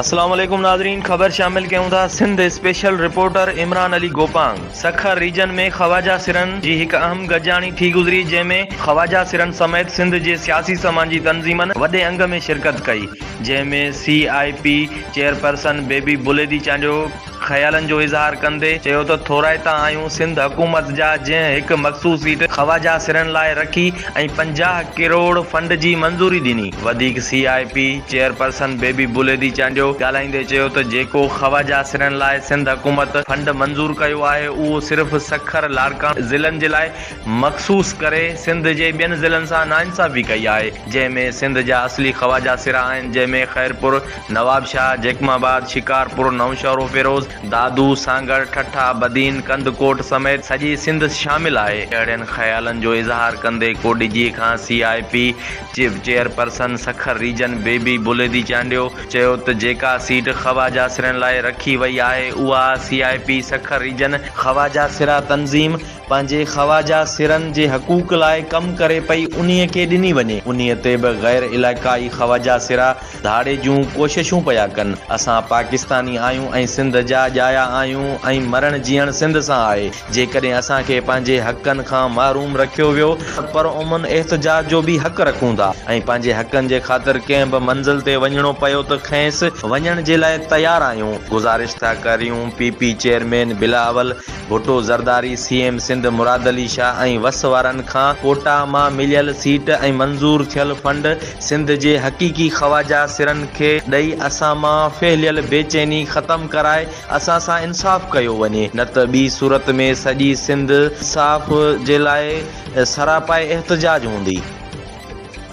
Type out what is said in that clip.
السلام عليڪم ناظرين خبر شامل ڪيون ٿا Sindh special reporter Imran Ali Gopang Sukkur region ۾ خواجا سرن جي هڪ اهم گڏجاڻي ٿي گذري جنهن ۾ خواجا سرن سميت سنڌ جي سياسي سماجي تنظيمن وڏي انگ ۾ شرڪت ڪئي جنهن ۾ C I P chairperson Bibi Buledi Chandio خيالن جو اظهار ڪندي چيو ته ٿورائتا آهيون سنڌ حڪومت جا جنهن هڪ مخصوص سيٽ خواجه سرن لاء رکي ۽ پنجاهه ڪروڙ فنڊ جي منظوري ڏني. وڌيڪ C I P chairperson Bibi Buledi Chandio ڳالهائيندي چيو ته جيڪو خواجه سرن لاء سنڌ حڪومت فنڊ منظور ڪيو آهي اهو صرف سکر لاڙڪاڻي ضلعن جي لاء مخصوص ڪري سنڌ جي ٻين ضلعن سان ناانصافي ڪئي آهي جنهن ۾ سنڌ جا اصلي خواجه سرا آهن جنهن ۾ خيرپور نوابشاهه، جيڪب آباد، شڪارپور، نوشهروفيروز، دادو، سانگهڙ، ٺٽا، بدين، ڪنڌڪوٽ سميت سڄي سنڌ شامل آهي. اهڙين خيالن جو اظهار ڪندي ڪو ڊي جي کان C I P chief chairperson Sukkur region Bibi Buledi Chandio چيو ته جيڪا سيٽ خواجه سرين لاء رکي وئي آهي اها C I P Sukkur region خواجه سرا تنظيم پنهنجي خواجه سرن جي حقوق لاء ڪم ڪري پئي انهي کي ڏني وڃي انهي تي به غير علائقائي خواجه سرا ڌاڙي جون ڪوششون پيا ڪن. اسان پاڪستاني آهيون ۽ سنڌ جا ڄايا آهيون ۽ مرڻ جيئڻ سنڌ سان آهي. جيڪڏهن اسان کي پنهنجي حقن کان محروم رکيو ويو ته پرامن احتجاج جو به حق رکون ٿا ۽ پنهنجي حقن جي خاطر ڪنهن به منزل تي وڃڻو پيو ته کيس وڃڻ جي لاء تيار آهيون. گذارش ٿا ڪريون P P chairman Bilawal Bhutto Zardari C M Sindh Murad Ali Shah ۽ وس وارن کان ڪوٽا مان مليل سيٽ ۽ منظور ٿيل فنڊ سنڌ جي حقيقي خواجه سرن کي ڏئي اسان مان ڦهليل بيچيني ختم ڪرائي اسان سان انصاف ڪيو وڃي نه ته ٻي صورت ۾ سڄي سنڌ انصاف جي لاء سراپائي احتجاج هوندي.